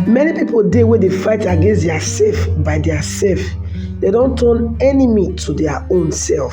Many pipo dey wey dey fight against dia sef by dia sef, dem don turn enemy to dia own sef.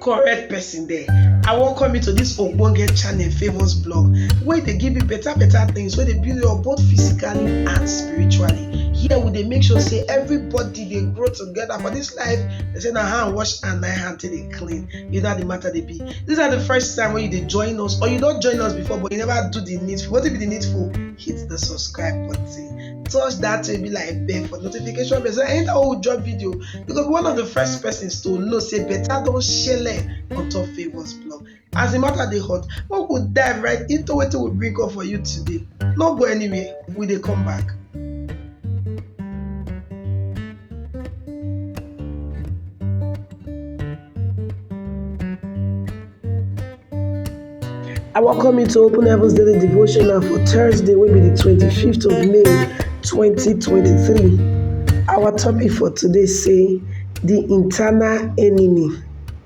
Correct pesin dere, I welcome you to dis ogbonge channel Favour's blog wey dey give you beta beta tins wey dey build you up both physically and spiritually. Here we dey make sure sey everybody dey grow togeda for dis life, dem sey na hand wash hand na him hand take dey. clean you know how the matter they be this are the first time when you they join us or you don't join us before but you never do the needful what if the needful hit the subscribe button touch that to be like bell for notification bell so anytime we drop video because one of the first persons to know say better don't share on top favors blog As the matter dey hot, make we dive right into wetin we bring come for you today. No go anywhere, we dey come back. I welcome you to Open Heavens Daily Devotional for Thursday, will be the 25th of May 2023. Our topic for today say the internal enemy.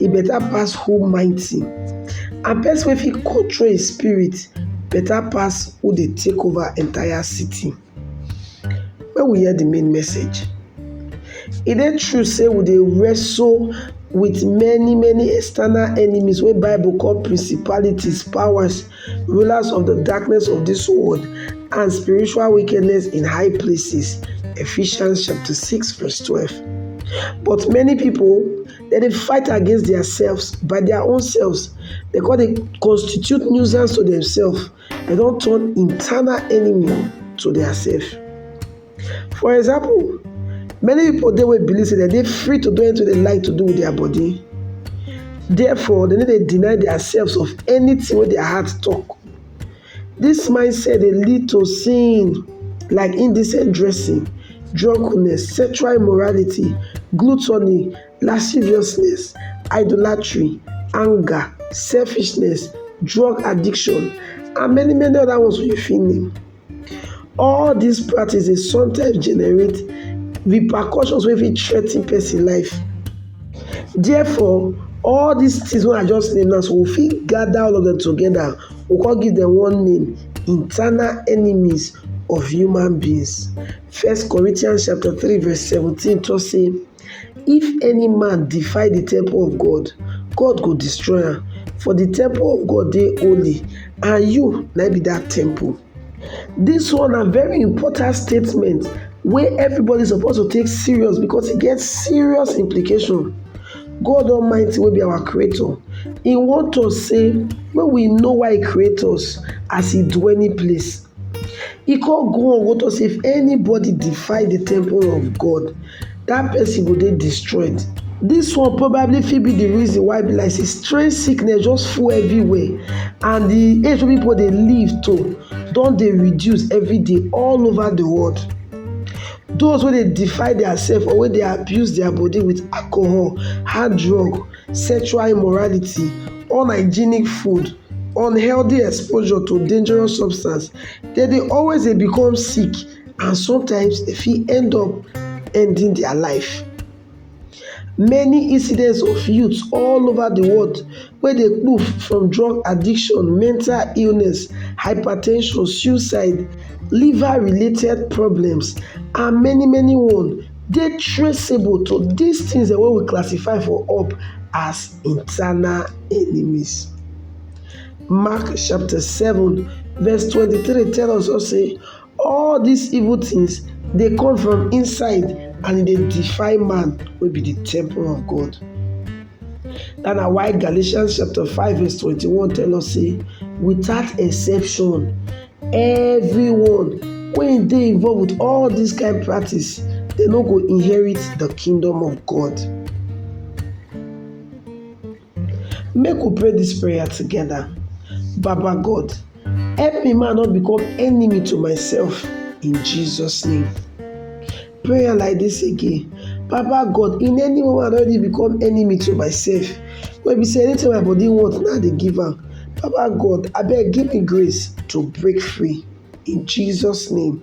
e better pass who mighty and person wey fit control him spirit better pass who dey take over entire city. Make we hear de main message, e dey true sey we dey wrestle with many many external enemies wey bible call principalities, powers, rulers of de darkness of dis world and spiritual wickedness in high places Ephesians chapter six verse twelve but many pipu Dem dey fight against diaselves by dia own selves, dem come dey constitute nuisance to demselves, dem don turn internal enemy to diaselves. For example, many pipu dey wey believe sey dem dey free to do anytin wey dem like to do wit dia body, therefore dem no dey deny diaselves of anytin wey dia heart talk. Dis mindset dey lead to sin like indecent dressing, drunkenness, sexual immorality, gluttony, lasciviousness, idolatry, anger, selfishness, drug addiction, and many many other ones wey you fit name. All dis practice dey sometimes generate repercussions wey fit threa ten person life. Therefore, all dis things wey I just name now, so we fit gather all of dem together We go come give dem one name, internal enemies of human beings. First Corinthians chapter three verse seventeen talk say, If any man defy the temple of God, God go destroy am. For the temple of God dey holy, and you na be that temple. This one na very important statement wey everybody suppose to take serious because e get serious implication. God Almighty wey be our creator, e want us say make we know why e create us as e do any place. E come go on go talk say if anybody defy the temple of God, that person go dey destroyed. This one probably fit be the reason why be like say strange sickness just full everywhere and the age wey people dey live to don dey reduce every day all over the world. Those wey dey defile diasef or wey dey abuse dia bodi wit alcohol, hard drug, sexual immorality, unhygienic food, unhealthy exposure to dangerous substance, dem dey always dey become sick and sometimes dem fit end up ending dia life. Many incidents of youth all over the world wey dey kpuf from drug addiction, mental illness, hypertension, suicide, liver related problems and many many one dey traceable to dis things dem wey we classify for up as internal enemies. Mark chapter seven verse twenty three tell us sey All dis evil tins dey come from inside and e dey defy man wey be di temple of God. Dat na why Galatians chapter five verse twenty-one tell us sey without exception everyone wey dey involve with all dis kain practice dem no go inherit di kingdom of God. Make we pray dis prayer together. Baba God, help me make I no become enemy to myself in Jesus name. Prayer like dis again, Baba God in any way wey I don already become enemy to myself wey be sey anything wey my body want na I dey give am, Baba God abeg give me grace to break free in Jesus name.